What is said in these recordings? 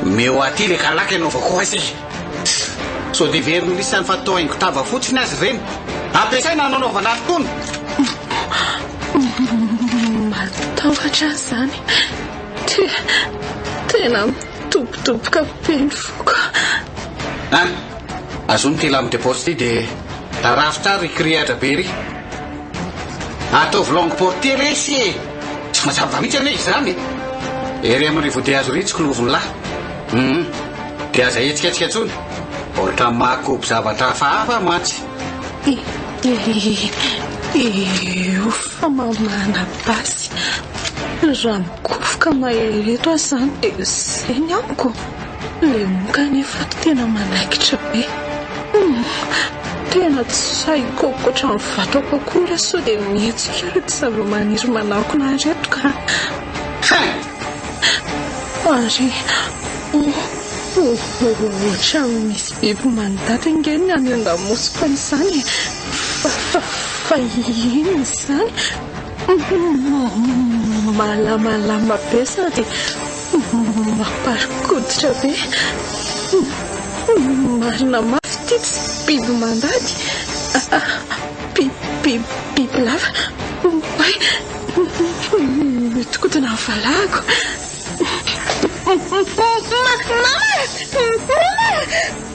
Omeo aty le kalaka anaovako azy e! Sao dia very ny lisany fa toa haingo tava fotsiny azy ireny. Ampiasaina hanaovana aro-tony. Matahotra ahy izany. Tena mitobotoboka be ny foko. An! Azony ity lame de poche ity dia tarafitra ary kiriatra be ery. Ataovy longue portée resy e! Tsy mazava mihitsy anie izany e! Ery amin'ny rivodia azo ritsiko ny ovon'ny lahy. Hum, dia aza hetsiketsika intsony. Ohatra mahakobo zavatra hafahafa mantsy. Io famamana basy. Raha mikofoka mahery eto aho izany dia izay ny amiko. Ilay moka anefa tena manaikitra be. Tena tsy sahiko ankoatra ny vatako akory aho sao dia mihetsika ireto zavamaniry manakona ireto ka. Ary ohatran'ny misy biby manidata ange ny any an-damosiko any izany e. Fa inona izany? Malamalama be sady. Mampari-koditra be. Marina mafy ity tsy biby mandady. Bibilava. Oay! Mihodinkodina ny valahako. Mama! Mama!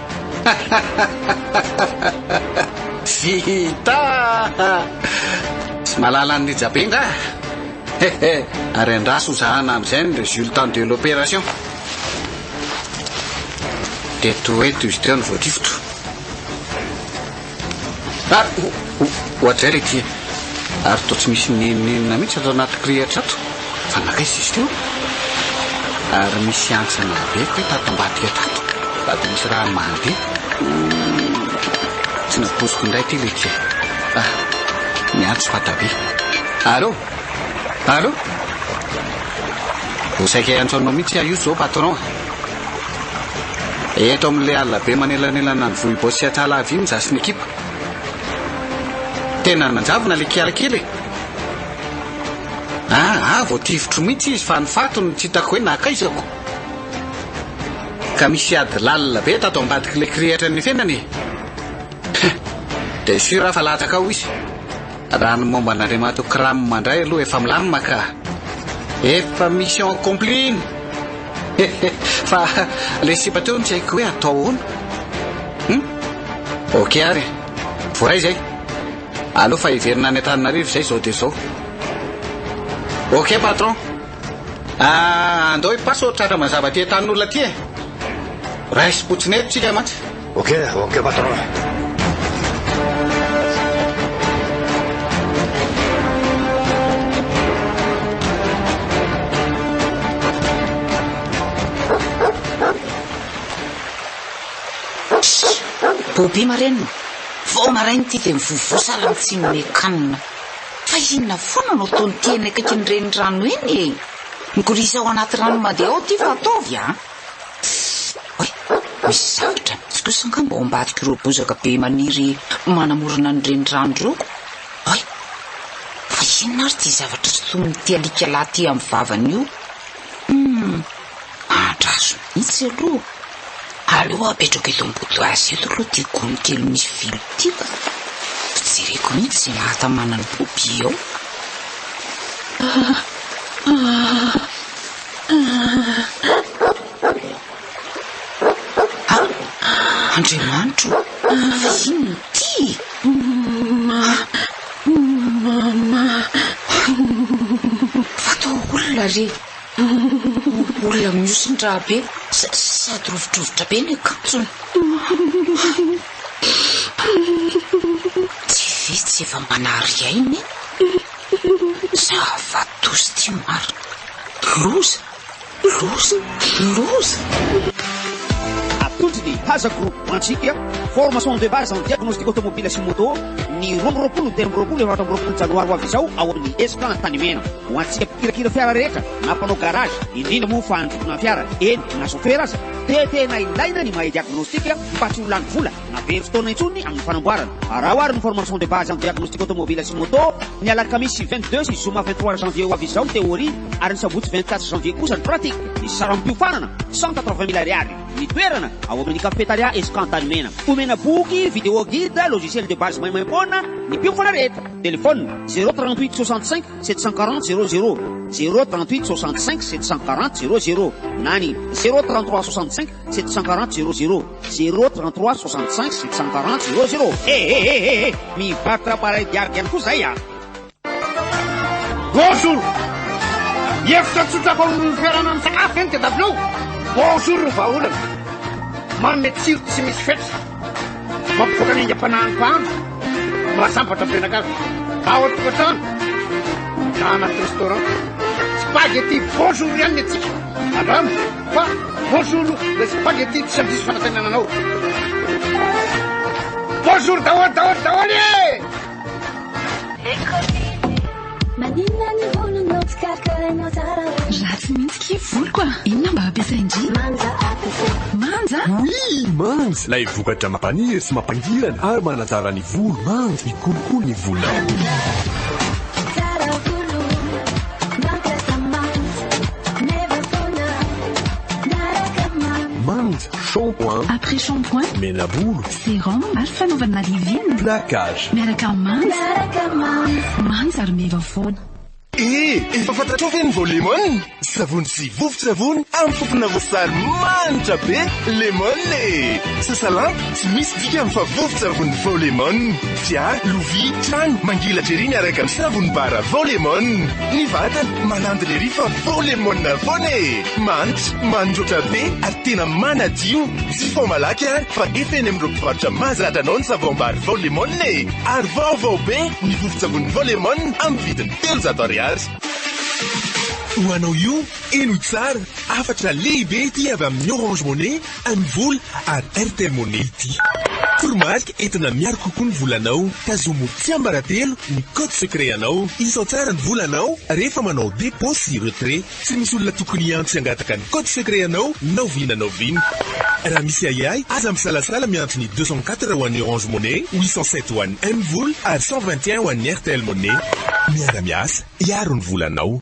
Vita! Tsy malala an'i Rijabe nga? Hehe, ary andraso ho zahana amin'izay ny résultant de l'opération. Dia toa eto izy teo no voatifitra. Ary hohajaina ity e! Ary toa tsy misy nenonenona mihitsy ato anaty kirihitra ato fa nankaiza izy teo? Ary misy hantsana be kay tato ambadika tato sady misy rano mandeha. Tsy napoiziko indray ity ilay tia. Ah, miantso Fatabe. Allô? Allô? Ho saika hiantso anao mihitsy aho io izao patron. Eto amin'ilay alina be manelanelana ny vohibao sy Antsahalavy iny izaho sy ny ekipa. Tena nanjavona ilay kiala kely e. Ah, ah, vao tifitro mihitsy izy fa ny faty no tsy hitako hoe nakaizako. Ka misy ady lalina be tato ambadik'ilay kirihitra nifenana e. Dia sûr aho fa latsaka ao izy. Raha ny momba an'Andriamatoa Cram indray aloha efa milamina ka. Efa mission accomplie iny. Hehe, fa ilay sipa teo no tsy haiko hoe atao ahoana? Hum? Ok ary e. Voaray izay. Aleo fa hiverina any Antananarivo izay izao dia izao. Ok patron. Ah, andao i Paso tratra mazava aty an-tanin'olona aty e. Raisim-potsiny eto tsika mantsy. Ok ok patron. Bobi marenina, vao maraina ity dia mivovo sahala amin'ny tsy nome kanina. Fa inona foana no ataon'ity eny akaikin'ny renirano eny e? Migorizao anaty rano mandeha ao ity fa ataovy an! Oay! Misy zavatra mihitsy kosa angamba ao ambadik'ireo bozaka be maniry manamorona ny renirano ireo ko! Oay! Fa inona ary ity zavatra sotomin'ity alika lahy ity amin'ny vavany io? Humm! Andraso mihitsy aloha! Aleo apetrako eto am-body azy eto aloha ity gony kely misy vilo ity ko! Ho jereko mihitsy izay mahatamana ny boobie ao! Aa! Aa! Andriamanitro ô! Vahiny ity e! Mama! Mama! Fa toa olona re! Olona mihosin-drà be sady rovidrovitra be ny akanjony. Tsy vitsy efa manary aina e! Zava doza ty marina. Loza, loza, loza. Atolotry ny Haza Group antsika formation de base en diagnostic automobile sy moto ny roa amby roapolo ny telo amby roapolo efatra amby roapolo janoary ho avy izao ao amin'ny Esplan Antanimena. Ho antsika mpikirakira fiara rehetra na mpanao garage, indrindra moa fa handrokoana fiara, eny na chauffeur aza dia tena ilaina ny mahay diagnostic mba tsy ho lany vola. Na very fotoana intsony amin'ny fanamboarana. Araho ary ny formation de base en diagnostic automobile sy moto, ny alakamisy vingt deux sy zoma vingt trois janvier ho avy izao ny théorie ary ny sabotsy vingt quatre janvier kosa ny pratique. Ny saram-piofanana, cent quatre vingt mille ariary. Ny toerana, ao amin'ny cafetaria Escan Tanimena. Omena boky, vidéo guide, logiciel de base maimaimpoana ny mpiofana rehetra. Telephone, zéro trente huit soixante cinq sept cent quarante zéro zéro, zéro trente huit soixante cinq sept cent quarante zéro zéro, na ny zéro trente trois soixante cinq. Sept cent quarante zero zero zero trente trois soixante cinq sept cent quarante zero zero he he he he he mivarotra appareil diargue ihany koa zay a. Bonjour! Hevitra tsotra vao amin'ny fitoerana misakafo ve ny TW? Bonjour ny vahaolana! Manome tsiro tsy misy fetra, mampivoaka ny aingam-panahin'ny mpahandro, mahasambatra ny mpianakavy, ao an-tokantrano na anaty restaurant. Spaghetti bonjour ihany ny antsika. Andramo! Fa bonjour le spaghetti tsy handiso fanatenana anao. Bonjour daholo daholo daholo e! Maninona ny volonao tsy karakarainao tsara hoe Ratsy mihitsy kie voloko a! Inona mba ampiasain-dry? Manja atasa Manja? Oui, manja! Ilay vokatra mampaniry sy mampangirana ary manatsara ny volo. Manja, mikolokolo ny volonao. Tsara volo, mampiasa manja Manja, shampoing, après shampoing, menabolo, sérum ary fanaovana rivine, plaquage, miaraka manja, manja ary meva foana. Eh, efa fantatrao ve ny vao lemon? Savony sy vovon-tsavony amin'ny fofona voasary manitra be lemon e! Sasalamba! Tsy misy dikany fa vovon-tsavony Vao Lemon. Fiara, lovia, trano, mangelatra ery miaraka amin'ny savony bara Vao Lemon. Ny vatana, manandina ery fa Vao Lemon foana e! Manitra, mandroatra be ary tena manadio. Jifaho malaky ary fa efa eny amin'ireo mpivarotra mahazatra anao ny savom-bary Vao Lemon e! Ary vaovao be ny vovon-tsavony Vao Lemon amin'ny vidiny telonjato ariary. Ho anao io, eny ho tsara, hafatra lehibe ity avy amin'ny Orange Money. Amin'ny vola ary Airtel Money ity. Toromarika entina miaro kokoa ny volanao, tazomo tsiambaratelo ny code secret anao. Isao tsara ny volanao rehefa manao dépôt sy retrait. Tsy misy olona tokony hihantsy hangataka ny code secret anao na oviana na oviana. Raha misy ahiahy, aza misalasala miantso ny deux cent quatre ho an'ny Orange Money, huit cent sept ho an'ny Mvola ary cent vingt et un ho an'ny Airtel Money. Miara-miasa hiaro ny volanao.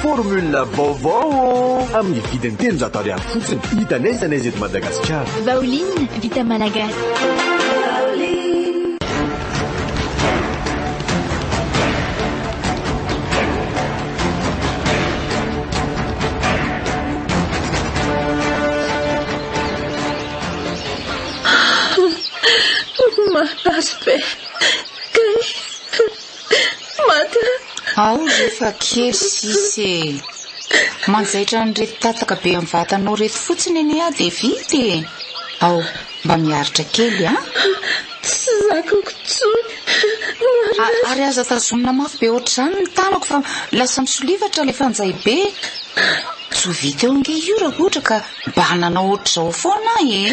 Formule vaovao ô! Amin'ny vidiny telonjato ariary fotsiny. Hita n'aiza n'aiza eto Madagasikara. Vaoline vita malagasy. Maty aho. Ao ry efa kely sisa e! Manjaitra an'ireto tataka be amin'ny vatanao ireto fotsiny anie aho dia vita e! Ao, mba miaritra kely an! Tsy zakako intsony. Noharinazy. Ary aza tazomina mafy be ohatr'izany ny tanako fa lasa misolivatra ilay fanjay be. Tsy ho vita eo ange io raha ohatra ka mba nanao ohatr'izao foana aho e!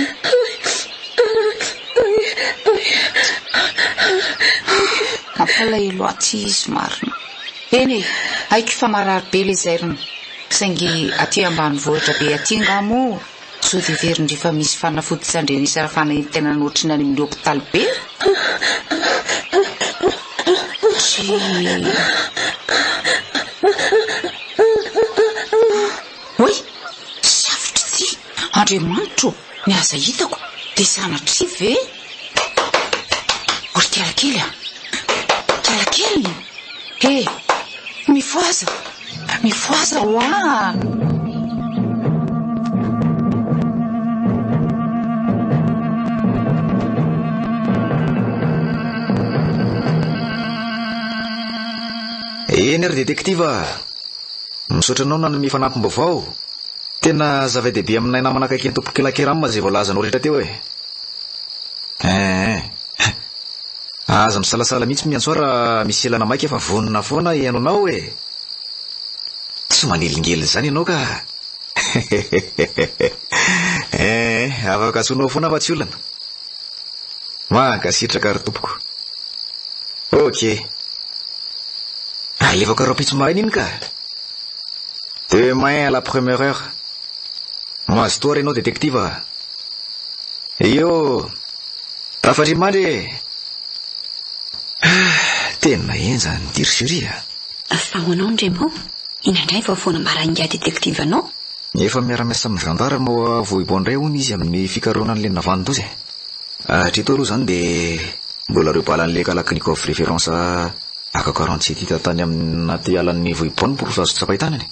Mampalahelo atsy izy marina. Eny e, haiko fa marary be le zairiny, saingy aty ambanivohitra be aty ngah moa zo viverin dry fa misy fanafody tsy andrenisa ra fanaintainana ohatry ny any amin'ny hopitaly be? Oy! Safotra ity! Andriamanitra o! Ny aza hitako dia sanatria ve ry kiala kely a! Kiala kely e! Mifohaza! Mifohaza ho'a! Eny ary detektiva a! Misaotra anao nanome fanampim-baovao. Tena zava-dehibe aminay namana akaiky an'i Tompokely Akeram izay voalazanao rehetra teo e. Eeh. Aza misalasala mihitsy Miantsoa raha misy elana maika fa vonona foana hihaino anao e. Tsy manelingelina izany ianao ka. Hehehehehe. Eeh, afaka antsoinao foana fa tsy olana. Mankasitraka ry tompoko. Ok. Alefako rahampitso maraina iny ka. Demain à la première heure. Mazotoa ary ianao détective a. Io. Tafatr'i Mandry e. Ah, tena henjana ny dirigerie a. Fa ho anao ny Remo, inona indray vao foana marain'ingahy détective anao? Efa miara-miasa amin'ny zandary ao Vohibo indray hono izy amin'ny fikarohana an'ilay navandoza e. Hatreto aloha izany dia mbola ireo balan'ilay Kalachnikov référence AK quarante sept hita tany anaty alan'ny Vohibo no porofo azo tsapain-tanana e.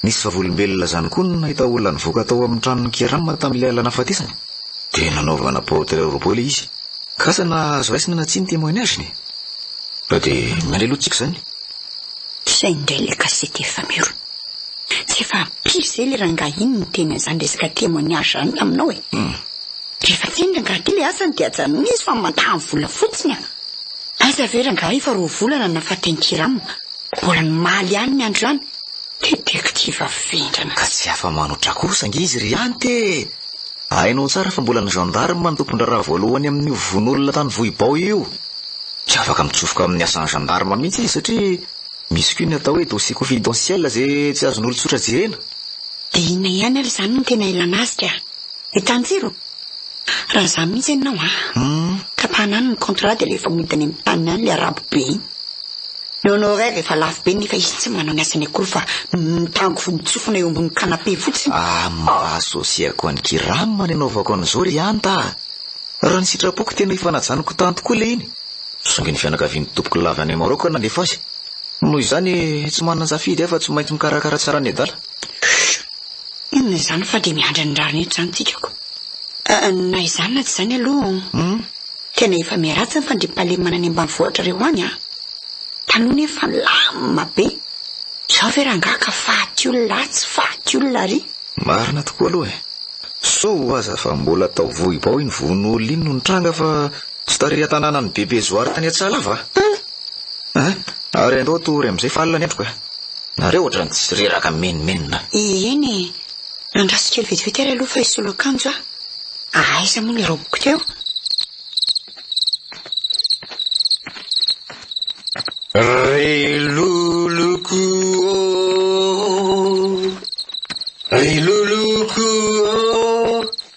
Nisy vavolombelona izany koa no nahita olona nivoaka tao amin'ny tranon'i Kieram tamin'ilay alina nahafatesany dia nanaovana portrait robot ilay izy. K'asa na azo raisina na tsia ny témoignage-ny e. Fa dia mandray aloha tsika izany. Sahy indray ilay gazety efa miorina. Tsy efa ampy zay le rangahy iny niteny an'zany resaka témoignage zany taminao e! Rehefa tsy eny rangahy ty le asany de ajanony izy fa mantaha ny vola fotsiny a! Aiza ve rangahy efa roa volana nafaten'i Hiram mbola mimaly ihany ny andro ihany? Détective vendrana. Ka tsy afa-manoatra kosa ange izy ry Anty e! Hainao tsara fa mbola ny gendarme no tompon-draharaha voalohany amin'io vono olona tany Vohibao io. Tsy afaka mitsofoka amin'ny asan'ny gendarme mihitsy izy satria. Misy koa ny atao hoe dossier confidentiel izay tsy azon'olon-tsotra jerena. Dia inona ihany ary izany no tena ilana azy ka? Hitan'i Jiro? Raha izany mihitsy ianao a! Tapahana any ny contrat dia alefa mody any amin'ny taniny any ilay arabo be iny. Ny honoraire efa lafo be nefa izy tsy manao ny asany akory fa mitango fo mitsofona eo ambony canapé fotsiny. Ah mba associer-ko an'i Kiram nanaovako an'izao ry Anta a! Raha ny sitrapoko tena ifanajaniko tany tokoa ilay iny. Zongin'ny fianakavian'ny tompoko lava any Maroc aho nanefa azy. Noho izany, tsy manan-tsafidy aho fa tsy maintsy mikarakara tsara ny adala. Puh! Inona izany fa dia miandry ny rariny eto izany tsikako. Na izany na tsy izany aloha, tena efa miharatsy ny fandriampahalemana any ambanivohitra ireo any an! Taloha nefa milamina be. Izao ve rangaha ka faty olona atsy, faty olona ary? Marina tokoa aloha e! Soa ho'aza fa mbola tao Vohibao iny vono olona iny no nitranga fa Tsy tary an-tanàna an'i Bebe Zoary tany Atsala va? Tany! Ah! Ary andao tory amin'izay fa alina ny andro ka! Nareo ohatran'ny tsy reraka menomenona. Ieny e! Andraso kely vetivety ary aloha fa hisolo akanjo aho. Aiza moa ny raobiko teo? Ry loloko ô! Ry loloko ô!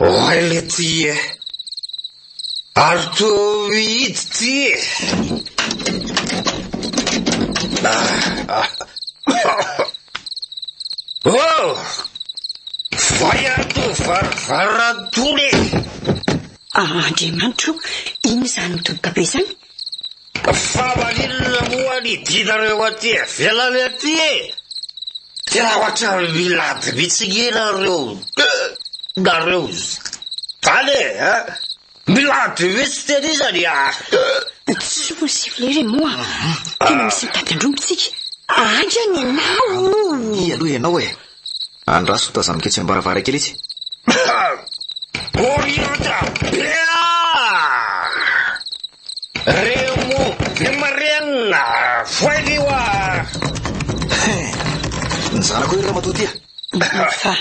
Oay letie eh! Ary toa mihidy ty eh! Oh! Vay ato varavarana tony eh! Ah Andriamanitro o! Inona izany midoboka be izany? Fa maninona moa ny dinareo aty ivelany aty e! Tena ohatran'ny milady mihitsy ianareo deux nareo izany e! Milady mihitsy tena iza ny ah. Tsy fony s'il vous plait re moa tena misy mitady andrombo tsika. Aiza ny anao? Ampy aloha ianao e! Andraso tazaniko etsy ambaravarankely etsy. Orientra be Remo be marena Voailio a Ny zanako ry ramatoa tia Fa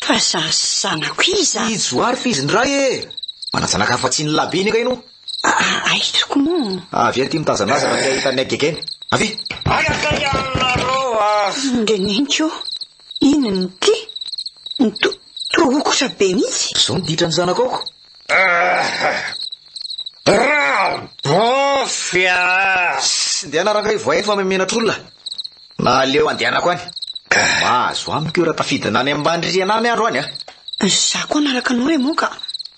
fa za zanako iza? I Johary f'izy ndray e! Manajanaka afa-tsy ny lahy be ny angaino? Ah, aiza tokoa moa? Avia aty mitazana azy raha te hahita an'i Agegena. Avia! Any akaiky any nareo ah! Ndry neniko ô! Inona ity? Nto, toa hokotra be mihitsy! Zao ny ditran'ny zanako aoko! Ah! Rabôfy ah! Sss, ndehana rangaivo voay fa memenatr'olona! Na aleo andehanako any! Mahazo amiko io raha tafidina any ambany rihana any aho androany ah! Za koa hanaraka anao re moa ka!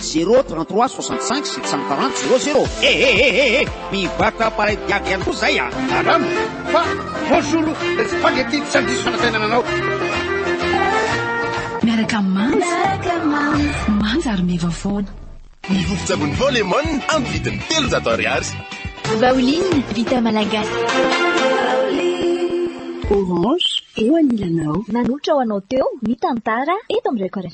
Zéro trente trois soixante cinq sept cent quarante zéro zéro eh eh eh eh eh mivatra pareil diaby ihany koa zay ah. Madame, fa bonjour o, le spaghetti tsy handiso fanatenana anao. Miaraka manja. Manja ary meva foana. Ny vovon-tsavony Vao Lemon amin'ny vidiny telonjato ariary. Vaoline vita malagasy. Orange, eo anilanao. Nanohitra ho anao teo ny tantara eto amin'ny Reko Rfm.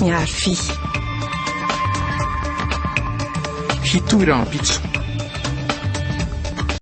Miharo vy. Hitohy rahampitso.